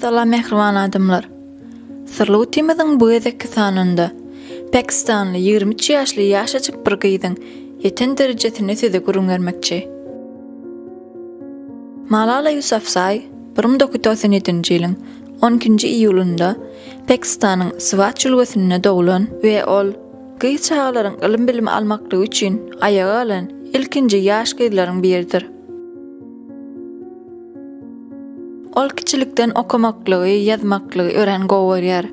Salam mähriban adamlar. Syrly utimiziň bu gezekki sanynda Pakistanly 23 ýaşly ýaşajyk bir gyzyň ýeten derejesini size gürrüň bermekçi. Malala Yusafzai 1997-nji ýylyň 12-nji iýulynda Pakistanyň Swat jülgesinde doglan we ol Gyz çagalaryň ylym-bilim almaklygy üçin aýaga galan ilkinji ýaş gyzlaryň biridir. Ol kiçilikden okamaklygy, ýazmaklygy örän gowy görýär.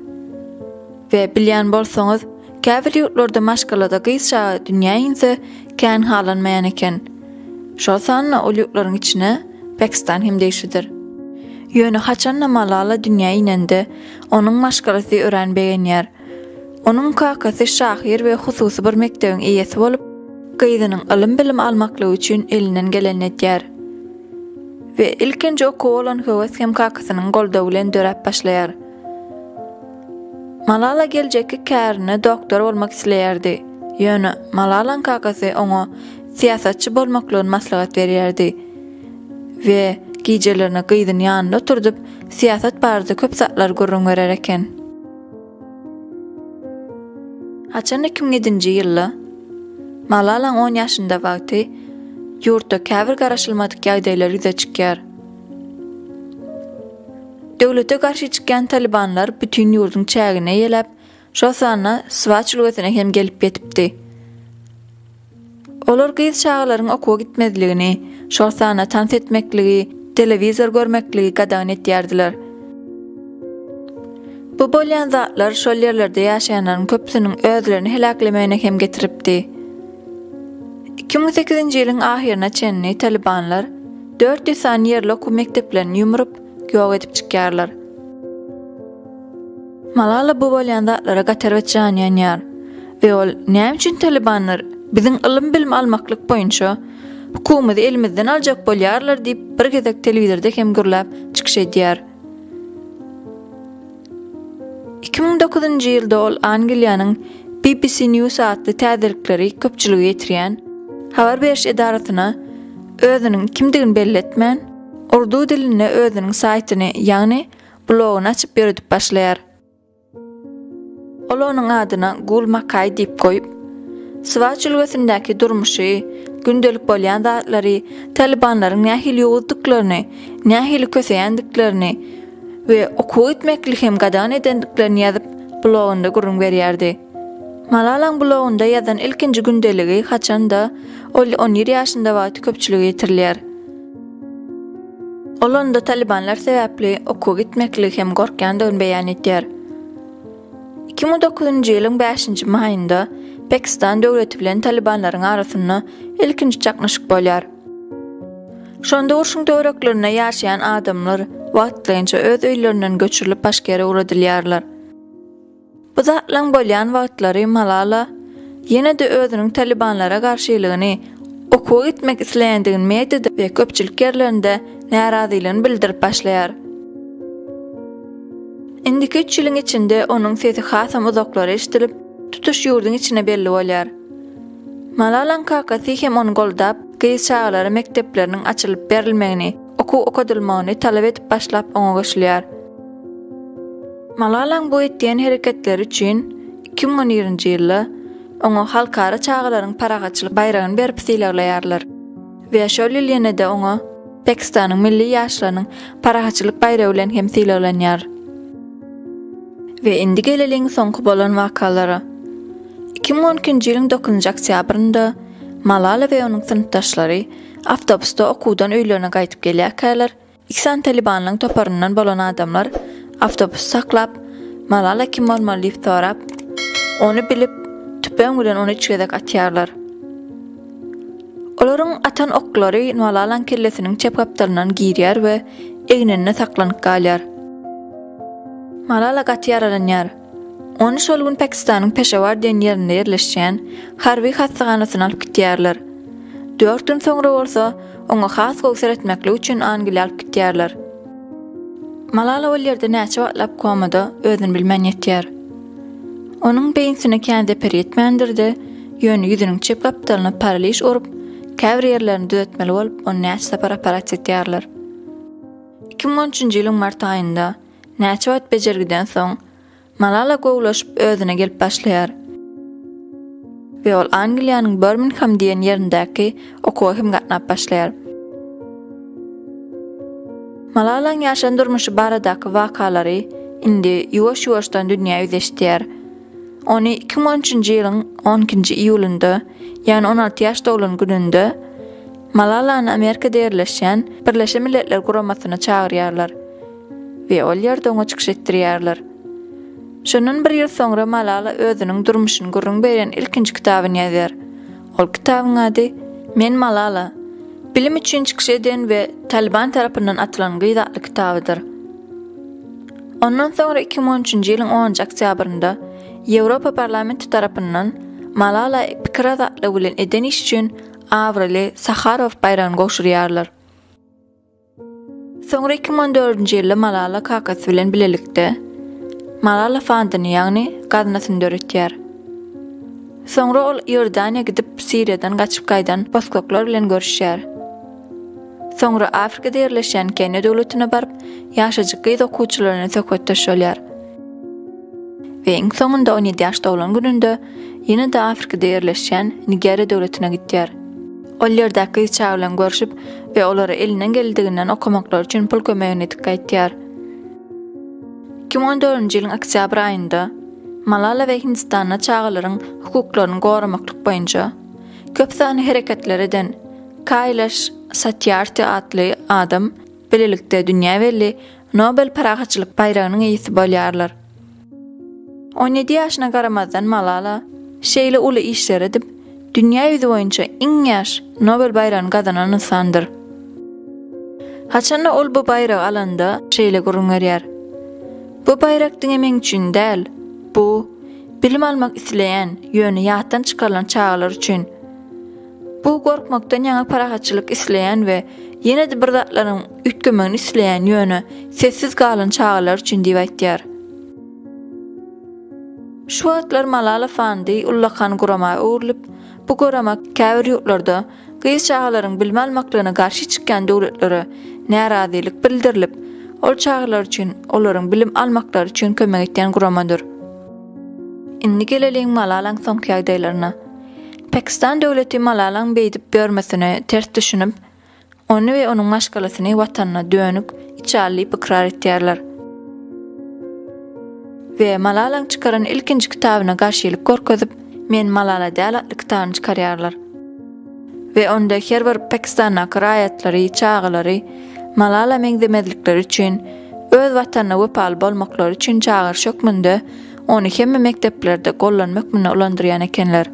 We bilýän bolsaňyz, käbir ýurtlarda maşgalada gyz çaga dünýä inse, kän halanmaýan eken. Şol sanda ol ýurtlaryň içine Pakistan hem degişlidir. Ýöne haçan-da Malala dünýä inende, onuň maşgalasy örän begenýär Onuň kakasy şahyr we hususy bir mekdebiň eýesi bolup, gyzynyň ylym-bilim almaklygy üçin elinden gelenini edýär. We ilkinji okuwa bolan höwes hem kakasynyň goldawy bilen döräp başlaýar. Malala geljekki kärine doktor bolmak isleýärdi. Ýöne Malalaň kakasy oňa syýasatçy bolmaklygyny maslahat berýärdi we gijelerine gyzyny ýanynda oturdyp, syýasat barada köp zatlar gürrüň berer eken. Haçan iki müň nji ýylda Malalaň on ýaşynda wagty ýurtda käbir garaşylmadyk ýagdaýlar ýüze çykýar. Döwlete garşy çykýan talybanlar bütin ýurduň çägini eýeläp, şol sanda Swaç ülgesine hem gelip ýetipdi. Olar gyz çagalaryň okuwa gitmezligini, şol sanda tans etmekligi, telewizor görmekligi gadagan etýärdiler. Bu bolýan zatlar şol ýerlerde ýaşaýanlaryň köpüsiniň özlerini heläklemegine hem getiripdi. Iki müň sekizinji ýylyň ahyryna çenli talybanlar dört ýüz sany ýerli okuw mekdeplerini ýumrup, ýok edip çykýarlar. Malala bu bolýan zatlara gaterbet jany ýanýar we ol näme üçin Talybanlar biziň ylym-bilim almaklyk boýunça hukumymyzy elimizden aljak bolýarlar diýip bir gezek telewizorda hem gürläp çykyş edýär. Iki müň dokuzynjy ýylda ol Angliýanyň BBC News atly täzelikleri köpçülige ýetirýän habar beriş edarasyna özüniň kimdigini belli etmän, urdu dilinde özüniň saýtyny, ýagny blogyny açyp ýöredip başlaýar. Ol onuň adyna Gul Makaý diýip goýup, Swat jülgesindäki durmuşy, gündelik bolýan zatlary, talybanlaryň nähili ýowuzdyklaryny, nähili köseýändiklerini we okuwa gitmekli hem gadagan edendiklerini ýazyp, blogynda gürrüň berýärdi. Malalaň blogunda ýazan ilkinji gündeligi haçan-da, ol on ýedi ýaşynda wagty köpçülige ýetirilýär. Ol onda talybanlar sebäpli okuwa gitmeklik hem gorkýandygyny beýan etýär. Iki müň dokuzynjy ýylyň bäşinji maýynda Pakistan döwleti bilen talybanlaryň arasynda ilkinji çaknyşyk bolýar. Şonda urşuň töwereklerinde ýaşaýan adamlar wagtlaýynça öz öýlerinden göçürilip başga ýere ugradylýarlar. Bu zatlaryň bolýan wagtlary Malala ýene-de özüniň Talybanlara garşylygyny, okuwa gitmek isleýändigini mediada we köpçülik ýerlerinde närazylygyny bildirip başlaýar. Indiki üç ýylyň içinde onuň sesi hasam uzaklara eşidilip, tutuş ýurduň içine belli bolýar. Malalaň kakasy hem ony goldap, gyz çagalara mekdepleriniň açylyp berilmegini, okuw okadylmagyny talap edip başlap oňa goşulýar. Malalaň bu etýän hereketleri üçin iki müň on birinji ýylda oňa Halkara çagalaryň parahatçylyk baýragyny berip sylaglaýarlar we şol ýyl ýene-de oňa Pakistanyň milli ýaşlarynyň parahatçylyk baýragy bilen hem sylaglanýar. We indi geleliň soňky bolan wakalara. Iki müň on ikinji ýylyň dokuzynjy oktýabrynda Malala we onuň synpdaşlary awtobusda okuwdan öýlerine gaýdyp gelýärkäler, Iki sany Talybanyň toparyndan bolan adamlar awtobusy saklap, Malala kim bolmaly diýip sorap, ony bilip, tüpeň bilen ony üç gezek atýarlar. Olaryň atan oklary Malalaň kellesiniň çep gapdalyndan girýär we egninde saklanyp galýar. Malala gaty ýaralanýar. Ony şol gün Pakistanyň Peşawar diýen ýerinde ýerleşýän harby hassahanasyna alyp gitýärler. Dört gün soňra bolsa, oňa has gowy seretmeklik üçin Angliýa alyp gitýärler. Malala ol ýerde näçe wagtlap komada özüni bilmän ýetýär. Onuň beýnsine kän zeper ýetmändir-de, ýöne ýüzüniň çep gapdalyna paraliž urup, käbir ýerlerini düzetmeli bolup, ony näçe sapar operatsiýa etýärler. Iki müň on üçünji ýylyň mart aýynda Näçe wagt bejergiden soň, Malala gowulaşyp özüne gelip başlaýar we ol Angliýanyň Birmingham diýen ýerindäki okuwa hem gatnap başlaýar. Malalaň ýaşan durmuşy baradaky wakalary indi ýuwaş-ýuwaşdan dünýä ýüz eşidýär. Ony iki müň on üçünji ýylyň on ikinji iýulynda, ýagny on alty ýaş doglan gününde Malalany Amerikada ýerleşýän Birleşen Milletler Guramasyna çagyrýarlar. we ol ýerde oňa çykyş etdirýärler. Şondan bir ýyl soňra Malala özüniň durmuşyny gürrüň berýän ilkinji kitabyny ýazýar. Ol kitabyň ady Men Malala, bilim üçin çykyş eden we Talyban tarapyndan atylan gyz atly kitabydyr. Ondan soňra iki müň on üçünji ýylyň onunjy oktýabrynda Ýewropa parlamenti tarapyndan Malala pikir azatlygy bilen eden işi üçin abraýly Saharow baýragyny gowşurýarlar. Soňra iki müň on dördünji ýylda Malala kakasy bilen bilelikde Malala fondyny, ýagny gaznasyny döretýär. Soňra ol Iordaniýa gidip, Siriýadan gaçyp gaýdan bosgaklar bilen görüşýär. Soňra Afrikada ýerleşýän Keniýa döwletine baryp, ýaşajyk gyz okuwçylar bilen söhbetdeş bolýar. We iň soňunda on ýedi ýaşda bolan gününde ýene-de Afrikada ýerleşýän Nigeriýa döwletine gidýär. Ol ýerdäki gyz çaga bilen görşüp we olara elinden geldigi-nden okamaklary üçin pul kömegini edip gaýtýar. Iki müň on dördünji ýylyň oktýabr aýynda Malala we Hindistanda çagalaryň hukuklaryny goramaklyk boýunça köp sanly hereketler eden Kailash Satyarti atly adam bilelikde dünýä belli Nobel parahatçylyk baýragynyň eýesi bolýarlar. On ýedi ýaşyna garamazdan Malala şeýle uly işleri edip, dünýä ýüzi boýunça iň ýaş Nobel baýragyny gazanan ynsandyr. Haçanda ol bu baýragy alanda şeýle gürrüň berýär, Bu baýrak diňe meň üçin däl, bu, bilim almak isleýän, ýöne ýatdan çykarylan çagalar üçin. Bu gorkmakdan ýaňa parahatçylyk isleýän we ýene-de bir zatlaryň üýtgemegini isleýän ýöne sessiz galan çagalar üçin diýip aýtýar. Şu wagtlar Malala fondy ullakan gurama öwrülip, bu gurama käbir ýurtlarda gyz çagalaryň bilim almaklygyna garşy çykýan döwletlere närazylyk bildirilip, ol çagalar üçin olaryň bilim almaklary üçin kömek etýän guramadyr. Indi geleliň Malalaň soňky ýagdaýlaryna. Pakistan döwleti Malalaň beýdip ýörmesine ters düşünip, ony we onuň maşgalasyny watanyna dönük, içal diýip ykrar etýärler. We Malalaň çykaran ilkinji kitabyna garşylyk görkezip, Men Malala däl atly kitabyny çykarýarlar. We onda her bir Pakistandaky raýatlary, çagalary Malala meňzemezlikleri üçin, öz watanyna wepaly bolmaklary üçin çagyryş hökmünde Ony hemme mekdeplerde gollanma hökmünde ulandyrýan ekenler.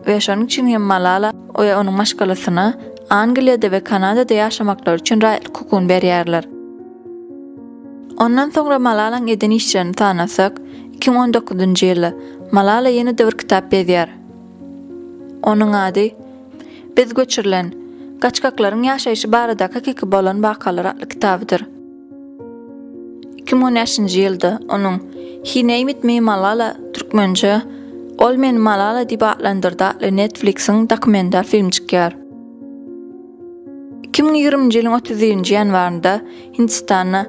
We şonuň üçin hem Malala we onuň maşgalasyna Angliýada we Kanadada ýaşamaklary üçin raýatlyk hukugyny berýärler. Ondan soňra Malalaň eden işlerini sanasak, 2019-njy ýylda Malala ýene-de bir kitap ýazýar. Onuň ady Biz göçürilen, gaçgaklaryň ýaşaýşy baradaky hakyky bolan wakalar atly kitabydyr. Iki müň on bäşinji ýylda onuň He Named Me Malala, türkmençe, Ol meni Malala diýip atlandyrdy atly Netflix-iň dokumental filmi çykýar. Iki müň ýigriminji ýylyň otuz birinji ýanwarynda Hindistanda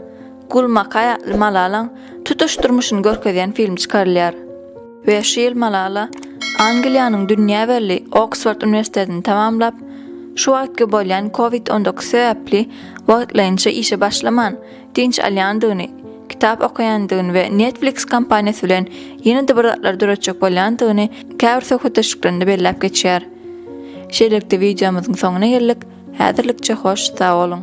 Gul Makai atly Malalaň tutuş durmuşyny görkezýän film çykarylýar. Bäş ýyl Malala Angliýanyň dünýä belli Oksford uniwersitetini tamamlap, şu wagtky bolýan covid on dokuz sebäpli wagtlaýynça işe başlaman, dynç alýandygyny, kitap okaýandygyny we Netflix kompaniýasy bilen ýene-de bir zatlar döretjek bolýandygyny käbir söhbetdeşliklerinde belläp geçýär. Şeýlelikde wideomyzyň soňuna geldik, häzirlikçe hoş sag boluň!